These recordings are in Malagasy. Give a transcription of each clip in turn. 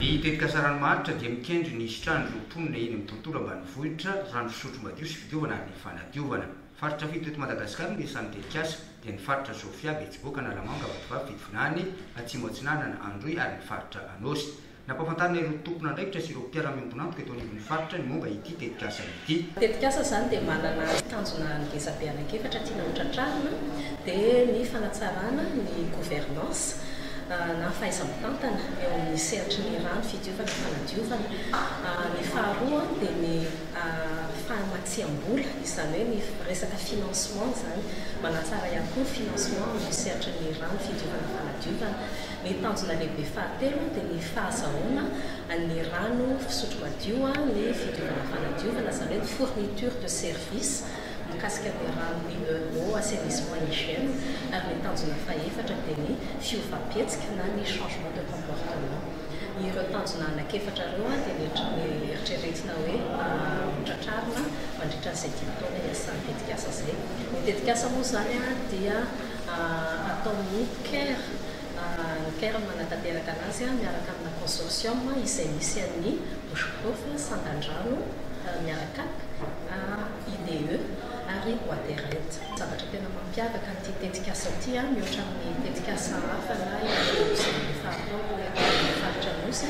Ny tetikasarany maharitra dia mikendry ny hisitran'ireo mponina eny amin'ny tontolo ambanivohitra rano fisotro madio sy fidiovana ary ny fanadiovana. Faritra fito teto Madagasikara no isan'ny tetikasa, dia ny faritra Sofia, Betsiboka, Analamanga, Vatovavy, Fitovinany, Atsimo Atsinanana, Androy ary ny faritra Anôsy. Nampahafantarina ireo tompon'andraikitra sy ireo mpiara-miombon'antoka eto anivon'ny faritra ny momba ity tetikasa Hi. Tetikasa izany dia manana tanjona ngezabe anankiefatra tiana ho tratrarina dia ny fanatsarana ny gouvernance na fahaiza-mitantana eo amin'ny sehatry ny rano fidiovana fanadiovana. Ny faharoa dia ny fahamatsiam-bola izany hoe ny resaka financement izany, manatsara ihany koa ny financement amin'ny sehatry ny rano fidiovana fanadiovana. Ny tanjona lehibe fahatelo dia ny fahazahoana ny rano fisotro madio, ny fidiovana fanadiovana, izany hoe ny fourniture de service mikasika ny rano mineurs, eau, assainissement, hygiène, ary ny tanjona fahefatra dia ny fiovam-pihetsika na ny changement de comportement. Ireo tanjona anankiefatra ireo dia neritreretina hoe hotratrarina mandritra an'izay dimy taona hiasan'ny tetikasa izay. Ny tetikasa moa izany dia. ataon'ny care, ny care no manatanteraka anazy miaraka amina consortium izay misy an'ny Bushgrowth, Sandandrano, Miaracap, IDE ary Waterent. Zavatra tena mampiavaka an'ity tetikasa ity mihoatra amin'ny tetikasa hafa na ireo izay efa atao eto amin'ny faritra Anosy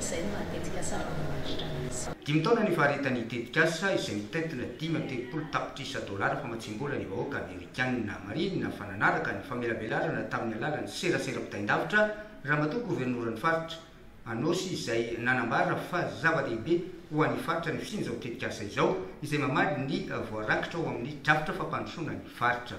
izay no mahatetika sary voamaritra azy. Dimy taona nifaritany tetikasa izay mitentina dimy amby telopolo tapitrisa dolara famatsiam-bola ny vahoaka Amerikana. Marihina fa nanaraka ny famelabelarana tamin'ny alalan'ny serasera mpitain-davitra Ramatoa Governoran'ny Faritra Anôsy izay nanambara fa zava-dehibe ho an'ny faritra ny fisian'izao tetikasa izao izay mamaly ny voarakitra ao amin'ny drafitra fampandrosoana ny faritra.